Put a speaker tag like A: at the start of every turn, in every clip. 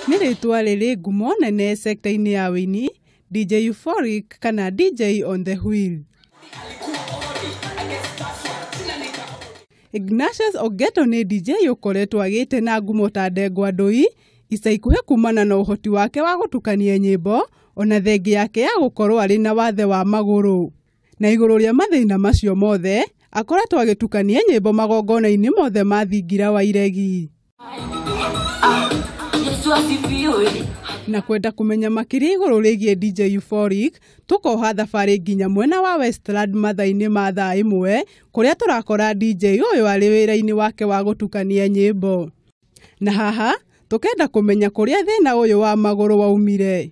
A: nĩ rĩtwa rĩrĩ ngumo nene sekta-inĩ ya wĩini dj euphoric kana dj on the wheel ignatius ogeto nĩ dj ũkoretwo agĩte na ngumo ta ndengwa ndũi ica ikuhĩ kumana na ũhoti wake wa gũtukania nyĩmbo ona thengi yake ya gũkorwo arĩ na wathe wa magũrũ Na igũrũ rĩa mathĩna macio mothe, akoretwo agĩtukania nyĩmbo magongona-inĩ mothe ma thingira wa iregi. Na kwenda kũmenya makĩria igũrũ rĩgiĩ DJ Euphoric, tũkoha thabarĩ nginya mwena wa Westland mathaa-inĩ ma thaa ĩmwe, kũrĩa tũrakora DJ ũyũ arĩ wĩra-inĩ wake wa gũtukania nyĩmbo. Na haha, tũkenda kũmenya kũrĩa thĩna ũyũ wa magũrũ waumire.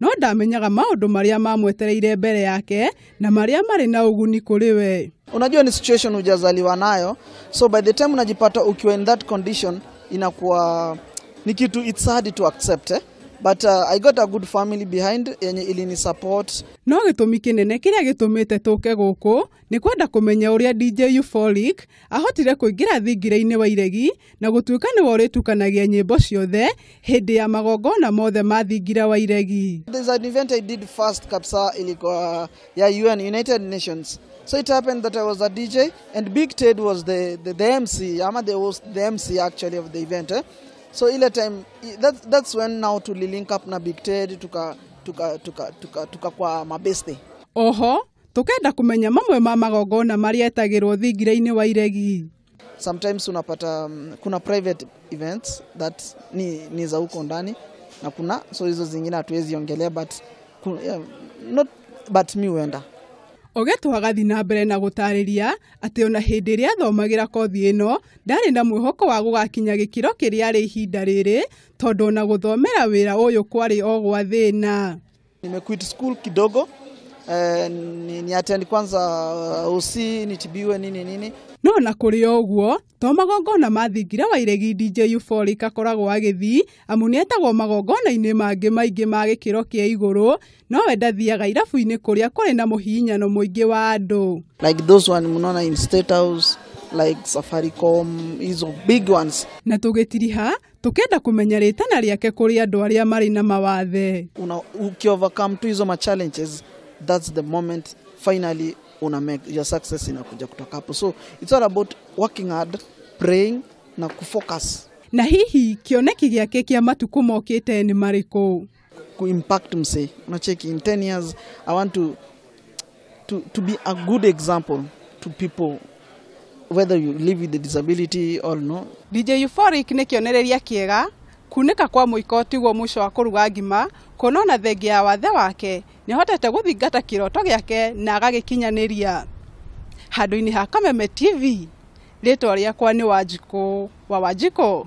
A: no ndamenyaga maũndũ marĩa mamwetereire mbere yake na marĩa marĩ na ũguni kũrĩ we. Unajua ni situation hujazaliwa nayo, so by the time unajipata ukiwa in that condition inakuwa ni kitu it's hard to accept eh? But uh, I got a good family behind yenye ilini support. No gĩtũmi kĩnene kĩrĩa gĩtũmĩte tũke gũkũ Nĩ kwenda kũmenya ũrĩa DJ Euphoric ahotire kũingĩra thingira-inĩ wa iregi na gũtuĩka nĩwe ũrĩtukanagia nyĩmbo ciothe hĩndĩ ya magongona mothe ma thingira wa iregi. There's an event I did first kabisa ilikuwa ya UN United Nations. So it happened that I was a DJ and Big Ted was the, the, the MC ama the host, the MC actually of the event eh? So ile time i- that, that's when now tulilink up na Big Ted tuka tuka tuka tuka, tuka kwa mabeste. Oho, Tũkenda kũmenya mamwe ma magongona marĩa etagĩrwo thingira-inĩ wa iregi. Sometimes unapata um, kuna private events that ni, ni za huko ndani na kuna so hizo zingine hatuwezi ongelea but, ku- yeah, not, but mi huenda Ogeto agathi na mbere na gũtarĩria atĩ ona hĩndĩ ĩrĩa athomagĩra kothi ĩno ndarĩ na mwĩhoko wa gũgakinya gĩkĩro kĩrĩa arĩ ihinda rĩrĩ tondũ ona gũthomera wĩra ũyũ kwarĩ o gwa thĩna. Nimequit school kidogo eh, ni, ni attend kwanza uh, OC nitibiwe nini nini No na kũrĩ o ũguo, to magongona ma thingira wa iregi DJ Euphoric akoragwo agĩthiĩ, amu nĩ etagwo magongona-inĩ mangĩ maingĩ ma gĩkĩro kĩa igũrũ, no we ndathiaga irabu-inĩ kũrĩa kũrĩ na mũhihinyano mũingĩ wa andũ. like those one mnaona in state house like safaricom hizo big ones Na tũgĩtiriha, Tũkenda kũmenya rĩtana rĩake kũrĩ andũ arĩa marĩ na mawathe. Una uki overcome tu hizo ma challenges, that's the moment finally una make your success inakuja kutoka hapo. So it's all about working hard, praying na kufocus. Na hihi kĩoneki gĩake kĩa matukũ mokĩte nĩ marĩkũ? kuimpact msee unacheki in 10 years i want to, to, to be a good example to people whether you live with a disability or no DJ Euphoric nĩ kĩonereria kĩega kunĩka kwa mũiko tiguo mũico wa kũruga ngima kuona ona thengia ya wathe wake nĩahotete gũthingata kĩroto gĩake na agagĩkinyanĩria handũ-inĩ ha Kameme TV rĩtwa rĩakwa nĩ Wanjikũ wa Wanjikũ